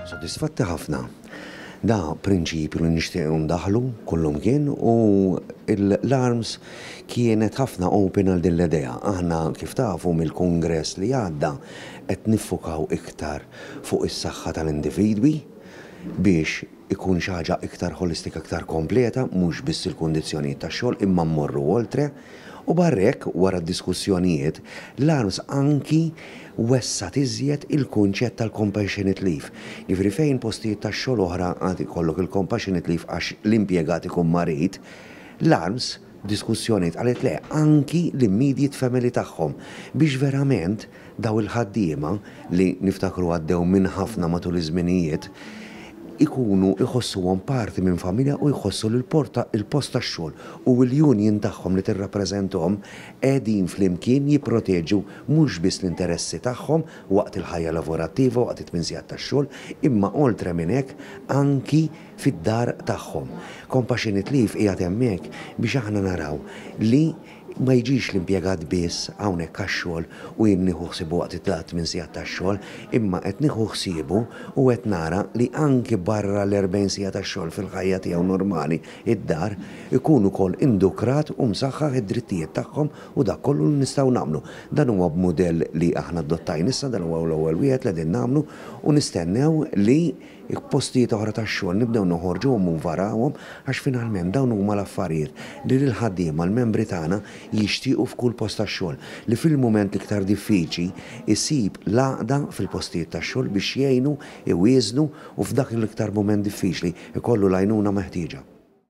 Sodisfatti ħafna. Da prinċipju li nixtieq ndaħlu kullum kien u l-arms kienet ħafna open għal din l-idea. Aħna kif tafu mill-kungress li għadda qed niffukaw iktar fuq is-saħħa tal-individwi biex ikun xi ħaġa iktar ħolistika iktar kompleta mhux biss il-kundizzjonijiet tax-xogħol imma mmorru oltre. U barra hekk, wara d-diskussjonijiet, l-ARMS anki wessgħet iżjed il-kunċett tal-compassionate leave, jiġifieri fejn postijiet tax-xogħol oħra għad ikollok il-compassionate leave għax l-impjegat ikun marid, l-ARMS f'diskussjonijiet qalet le anki l-immediate family tagħhom biex verament, Dawn il-ħaddiema, li niftakru għaddew minn ħafna matul iż-żminijiet, ikunu jħossuhom parti minn familja u jħossu li l-porta, il-post tax-xogħol u l-union tagħhom li tirrappreżentahom qegħdin flimkien jipproteġu mhux biss l-interessi tagħhom waqt il-ħajja lavorattiva, waqt it-tmien sigħat tax-xogħol, imma oltre minn hekk anki fid-dar tagħhom. Compassionate Leave qiegħed hemmhekk biex aħna naraw li Ma jiġix l-impjegat biss hawnhekk għax-xogħol u jien nieħu ħsiebu waqt it-tmien sigħat tax-xogħol, imma qed nieħu ħsiebu u qed nara li anki barra l-erbgħin siegħa tax-xogħol fil-ħajja tiegħu normali d-dar, ikun ukoll indukrat u msaħħaħ id-drittijiet tagħhom u dak kollu li nistgħu nagħmlu. Dan huwa b'mudell li aħna adottajna issa, dan huwa l-ewwel wieħed li qegħdin nagħmlu u nistennew li, il-postijiet oħra tax-xogħol nibdew noħorġuhom minn warahom għax finalment dawn huma l-affarijiet li lill-ħaddiema, l-membri tagħna, jixtiequ f'kull post tax-xogħol, li fil-mument l-iktar diffiċli jsib l-għaqda fil-postijiet tax-xogħol biex jgħinu, iwieżnu u f'dak l-iktar mument diffiċli jkollu l-għajnuna meħtieġa.